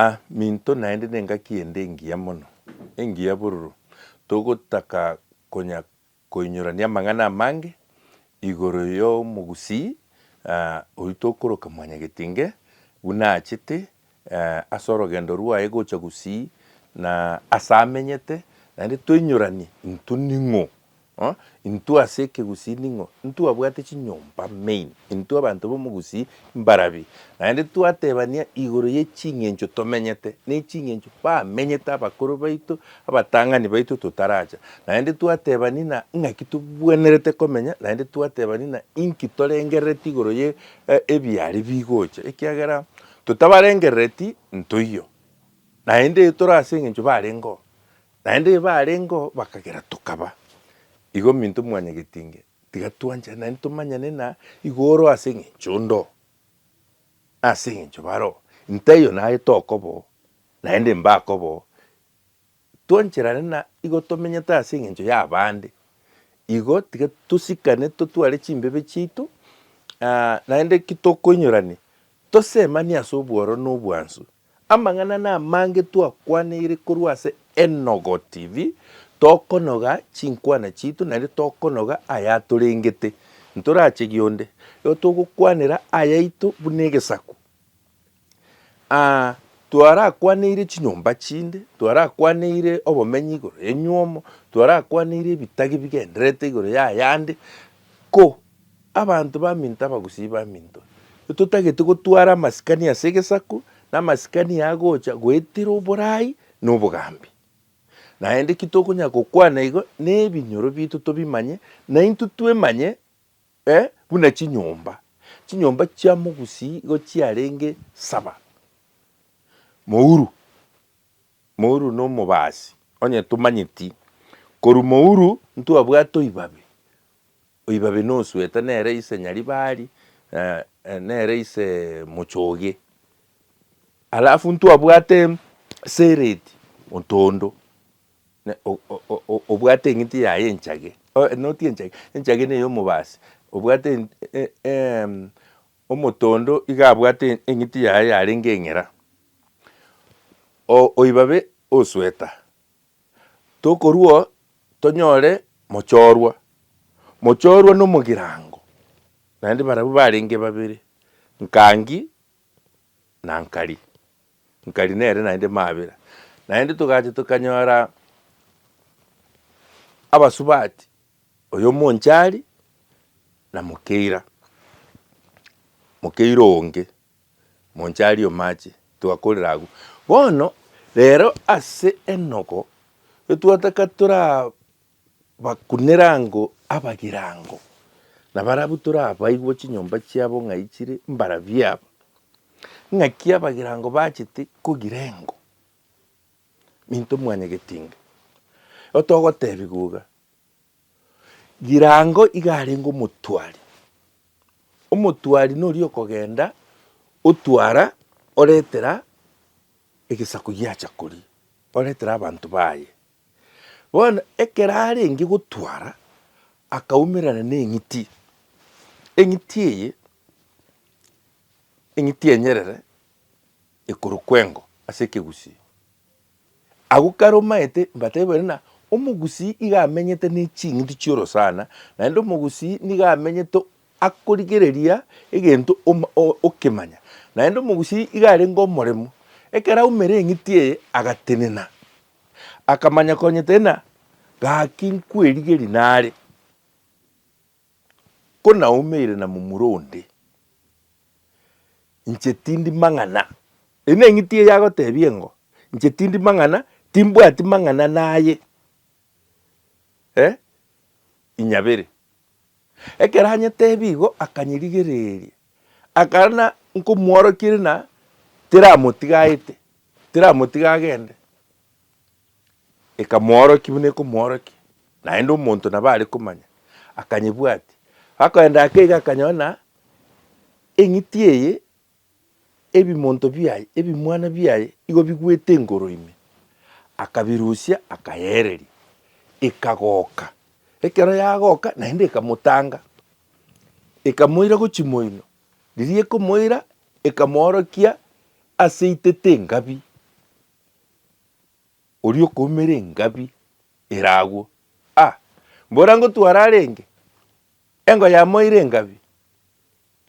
A minto naende nengaki ende engiya mono, engiya bororo, togotaka konya koinyorania amang'ana amange igoro y'omogusii oyio tokoroka Mwanyagetinge buna achete ase orogendo rwaye gocha gusii na ase amenyete, naende toinyoranie intwe ning'o Intwe ase ekegusii ning'o? Intwe abwate chinyomba main. Intwe abanto b'omogusii mbarabi. Naende twatebania igoro ye ching'encho tomenyete, na eching'encho bamenyete abakoro baito, abatang'ani baito totaracha. Naende twatebani na ng'aki tobwenerete komenya, naende twatebani na inki torengerereti igoro ye ebiaria bigocha. Ekiagera totabarengerereti ntoiyo, naende etoro ase eng'encho barengeo. Naende igo barengeo bakagera tokaba igo minto mwanyagetinge tiga twanchane naende tomanyane na igoro ase engencho ondo ase engencho baro intaiyo naye tokobo naende mbakobo twancherane na igo tomenyete ase engencho ya abande igo tiga tosikane totware chimbebe chiaito naende ki tokoinyorania tosemanie ase obworo na obwansu Amang'ana namange twakwaniire korwa ase Enogo TV, tokonoga chinkwana chiito naende tokonoga ayatorengete. Ntorachegi onde, igo togokwanera ayaito buna egesaku. Aa twarakwaniire chinyomba chinde, twarakwaniire obomenyi igoro yenywomo, twarakwaniire ebitagi bigendererete igoro yayande, ko. Abanto baminto abagusii baminto, totagete gotwara amasikani ase egesaku, na amasikani aya agocha goetera oborai na obogambi. Naende ki tokonyara gokwana igo, na ebinyoro biaito tobimanye, na intwe twemanye eh, buna chinyomba chinyomba chia mogusii igo chiarenge saba. Mouru, mouru na omobaasi, onye tomanyeti, korwa mouru ntwabwate oibabe. Oibabe nosuete nere ise nyaribari, nere ise mochoge. Alafu ntwabwate sereti ontondo, obwate eng'iti yaye enchage, noti enchage, enchage neye omobasi, obwate omotondo iga abwate eng'iti yaye yarenge eng'era. Oibabe osueta Tokorua tonyore mochorwa. Mochorwa nomogirango, naende barabwo barenge babere, Nkangi na Nkari. Nkari nere naende Mabera. Naende togacha tokanyora abasubati, oyo omonchari na Mokeira, Mokeira onge. Monchari omache, twakorire agwo. Bono rero ase enogo etwataka torabakunere ango abagirango, na barabwo torabaigwe chinyomba chiabo ng'ai chire mbarabia aba. Ng'aki abagirango bachete kogira engo minto mwanyagetinga. Igo togotebiwa iga. Girango iga arenge omotwari, omotwari noria okogenda otwara oretera egesaku giacha koria, oretera abanto baye. Bono ekero arenge gotwara akaumerana na eng'iti, eng'iti eye, eng'iti enyerere. igoro kw'engo ase ekegusii. Agwo kare omaete mbateebere ng'a omogusii iga amenyete ne ching'iti chi'orosana, naende omogusii nigo amenyete akorigereria egento oma okemanya, naende omogusii iga arenge omoremu. Ekero aumire eng'iti eye agatenena, akamanya konyetenena, gaki nkwerigeria nare. Konaumeire na momura onde, inche tindi mang'ana. Eyio neng'iti eye agotebia engo, inche tindi mang'ana, timbwati mang'ana naye eh, inyabere. Ekero anyetebia igo akanyerigereria, akana nkomworokia rina teramotigaete, teramotiga agende. Ekamoorokia buna ekomoorokia, naende omonto nabo are komanya, akanyebwatia. Akoenda ake iga akanyora eng'iti eye, ebimonto biaye, ebimwana biaye igo bigwete engoro ime. Akabirusia akayeereria, ekagoka. Ekero yagoka naende ekamotanga, ekamoira gochia moino. Riria ekomoira, ekamoorokia ase itete engabi. Oria okoumera engabi ere agwo. A! Mbora ngotware arenge, engo yamo eire engabi,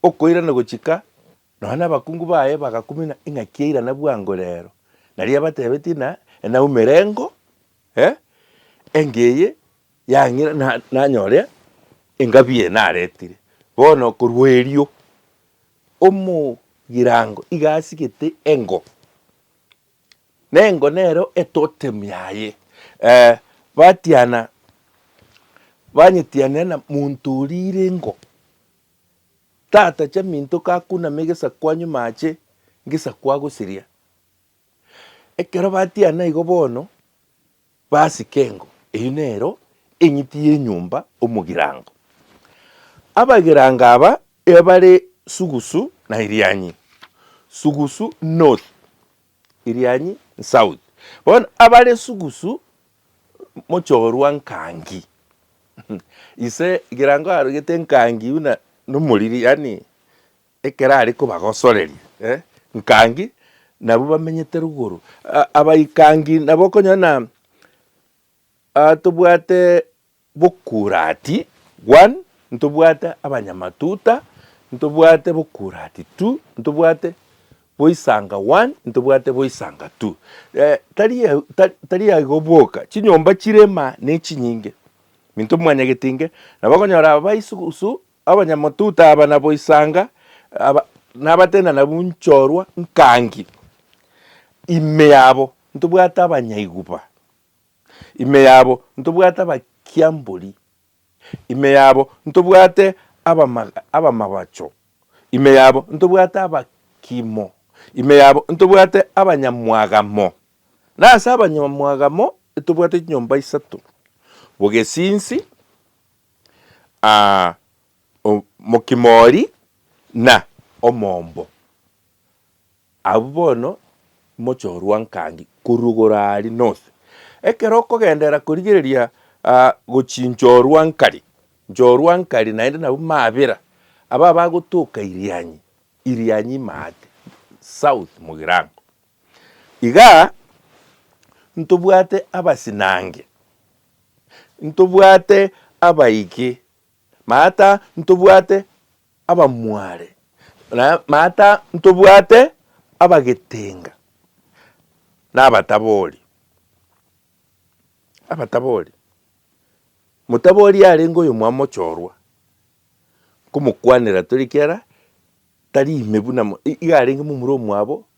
okoirana gochika nonya nabakungu baye bagakumina ing'aki eirana bwango rero. Nario abatebetie na enaumera engo, eh, engo eye yang'ira na nanyore engabi eye naretire. Bono korwa erio omogirango iga asigete engo. Nengo nero etotem yaye. Eh, batiana, banyetianera na monto oria ire ingo. Tata chaminto kakunama egesaku anyume ache ngesaku agosiria. Ekero batiana igo bono. Pasika engo, eyio nero eng'iti y'enyomba omogirango. Abagirango aba ebare sugusu na irianyi, sugusu north, irianyi south. Bono abare sugusu mochorwa nkangi ise egerango arogete nkangi buna nomoriri yaani Ekero are kobagosoreria, nkangi nabwo bamenyete rugoro, abaikangi nabo okonyora na tobwate bokurati one, ntobwate abanyamatuta, ntobwate bokurati two, ntobwate boisanga one, ntobwate boisanga two. Tari tari aigo boka, chinyomba chire maa nechinyinge, minto mwanyagetinge, nabo okonyora abaisogusu Abanyamotuta aba nabo isanga aba nabatenda nabwo nchorwa nkangi ime yabo ntobwate abanyaiguba, ime yabo ntobwate abakiambori, ime yabo ntobwate abama abamabacho, ime yabo ntobwate abakimo, ime yabo ntobwate abanyamwagamo. Na ase abanyamwagamo etobwate chinyomba isato, Bogesinsi, aa, o, mokimori na omombo. Abwo bono mochorwa nkangi korwa igoro aria nose. Ekero okogenderera korigereria aa, gochia nchorwa nkari, nchorwa nkari naende nabwo mabera, aba bagotoka irianyi, irianyi imaate, south mogirango. Iga ntobwate abasinange, ntobwate abaike, maata ntobwate abamware, na maata ntobwate abagetenga, na abatabori. Abatabori, motabori yarenge oyomwamo ochoorwa, nkomokwanera tore ekiagera tari ime buna iga arenge momura omwabo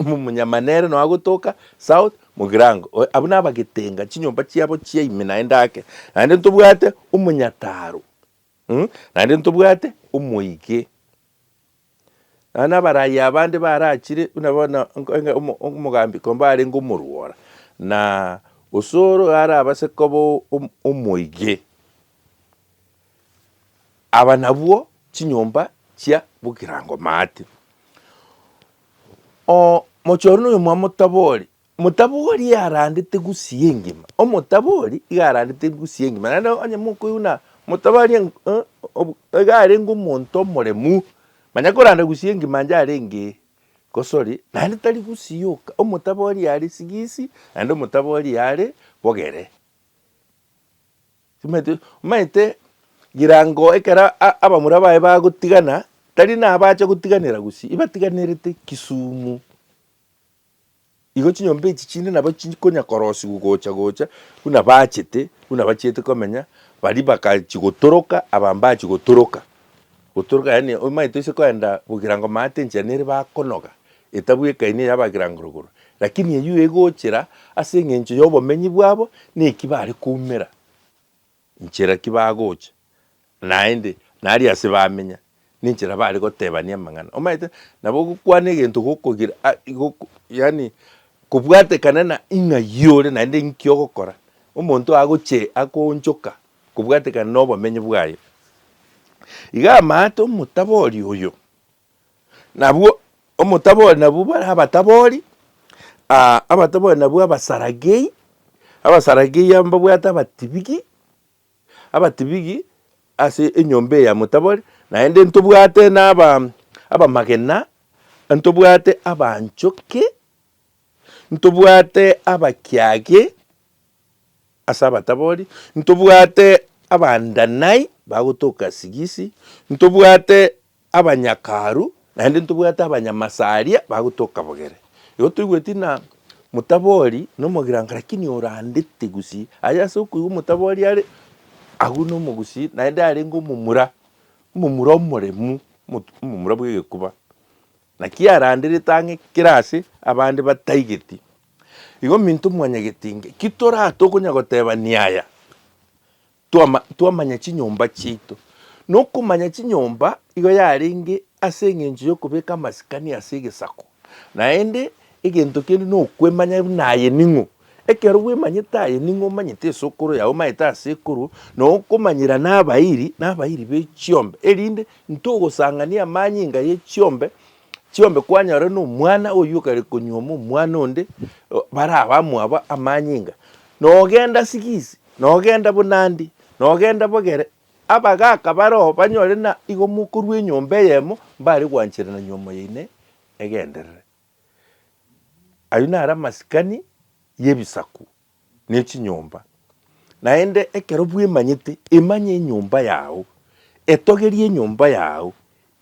Omonyama nere nonya gotoka south mogirango oye abwo nabagetenga chinyomba chiabo chia ime naende ake naende ntobwate omonyataro mm naende ntobwate omoige nonya nabarayi abande barachire buna bono nkoinga omo omogambi kombe arenge omorwora na osoro arabase koba omoige. Aba nabwo chinyomba chia bokirango maate. Oo, mochore noyo mwa motabori, motabori iga arandete gusia engima, omotabori iga arandete gusia engima, naende onye mokoiguna motabori en- eh, ob- iga arenge omonto omoremu, manya koranda gusia engima ande arenge gosori, naende tari gusia oka, omotabori are sigisi, naende omotabori are bogere. Timothy, omanyete rirango ekero abamura baye bagotigana, tari nabache gotiganera gusii, ibatiganerete Kisumu. Igo chinyomba echi chinde nabo chikonya korosigwa gocha gocha buna bachete, buna bachiete komenya, baria bakachigotoroka abambachi gotoroka. Gotoroka yaani oimanyete toise koenda bogirango maate enchera nere bakonoga, etabu ekaini eya bagirango rogoro, lakini eyio egochera ase eng'encho y'obomenyi bwabo neki bare koumera, nchera ki bagocha, naende nari ase bamenya, ninchera bare gotebania amang'ana. Omanyete nabo ogokwana egento gokogira a goko yaani kobwatekana na ing'ai ore naende inki ogokora. Omonto agoche akoonchoka Kobwatekana nobomenyo bwaye. Iga amaate omotabori oyo, nabwo omotabori nabwo bare abatabori, aa abatabori nabwo abasaragei, abasaragei aba mbabwate abatibigi, abatibigi ase enyomba eye ya motabori, naende ntobwate naba abamagena, ntobwate abanchoki, ntobwate abakiagi. Ase abatabori ntobwate Abandanai bagotoka sigisi, ntobwate abanyakaru, naende ntobwate abanyamasaria bagotoka bogere. Igo toigweti ng'a motabori nomogirankare lakini orandete gusii aye ase okoigwa omotabori are, agwo nomogusii naende arenge omomura, omomura omoremu, omomura bwegekuba. Naki aranderete ang'e kera ase abande bataigeti, igo minto mwanyageti inge. Ki toraa tokonya gotebania aya? Twama, twamanya chinyomba chiaito. Na okomanya chinyomba igo yarenge ase engencho y'okobeka amasikani ase egesako. Naende egento kende nokwemanya buna aye ning'o, Ekero bwemanyete aye, ning'o omanyete esokoro yao, omanyete asekoro, na okomanyera nabairi, nabairi be chiombe, erinde ntogosang'ania amanyinga ye chiombe chiombe kwanyorire nomwana oyio okare konyuoma omwana onde, o- bare abamwabo amanyinga. Nogenda sigisi, nogenda bonandi, nogenda bogere, abagaka bare oo banyore na igo mokorwa enyomba eyemo, mbare gwancherana nyuoma yaino egenderere. Ayio naro amasikani y'ebisaku ne chinyomba. Naende ekero bwemanyete, emanye enyomba yao, etogerie enyomba yao,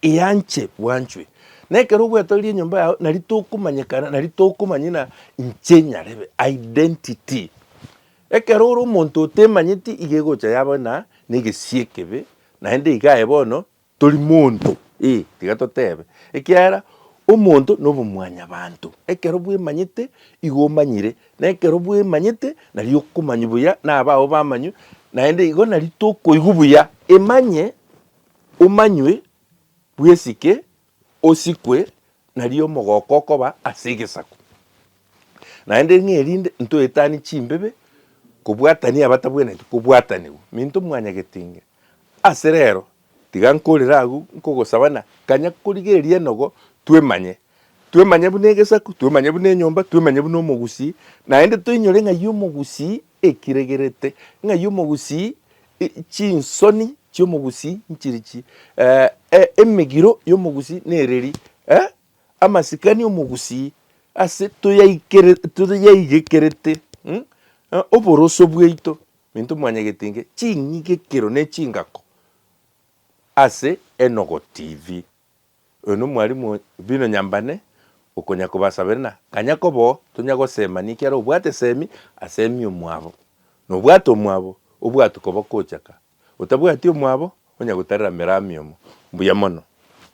eanche bwanchwe. Na ekero ogwetogeria enyomba yao, nari tokomanyekana, nari tokomanya ng'a inche nyarebe, identity. Ekero ore omonto otemanyeti iga egocha yaba na egesi ekebe, naende iga aye bono Tori monto, ee, tiga totebe, ekiagera omonto nobomwanyabanto. Ekero bwemanyete, igo omanyire, na ekero bwemanyete, nario okomanywa buya nabao bamanywe, naende igo nario tokoigwa buya. Emanye, omanywe, bwesike, osikwe, nario omogoko okoba ase egesaku. Naende ng'a erinde ntoetanie chimbibe, kobwatania abatabwenereti kobwatanigwa, minto mwanyagetenge. Ase rero, tiga nkorere agwo nkogosaba na kanya korigereria enogo twemanye. Twemanye buna egesaku, twemanye buna enyomba, twemanye buna omogusii, naende toinyore ng'ai omogusii ekiregerete, ng'ai omogusii e chinsoni chi'omogusii nchiri chii, eh, emegiro y'omogusii nereri, eh, amasikani omogusii ase toyaikere toyaigekerete, mh, oboroso bwaito. Minto mwanyegetiinge ching'igekero ne chingako ase Enogo TV. Oyo no mwalimu o bino nyambane okonya kobasabera na kanya kobo tonya gosema niki are obwate semi asemi omwabo na obwate omwabo obwatu kobo kochaka otabwati omwabo onya gotarera merami omo. Mbuya mono.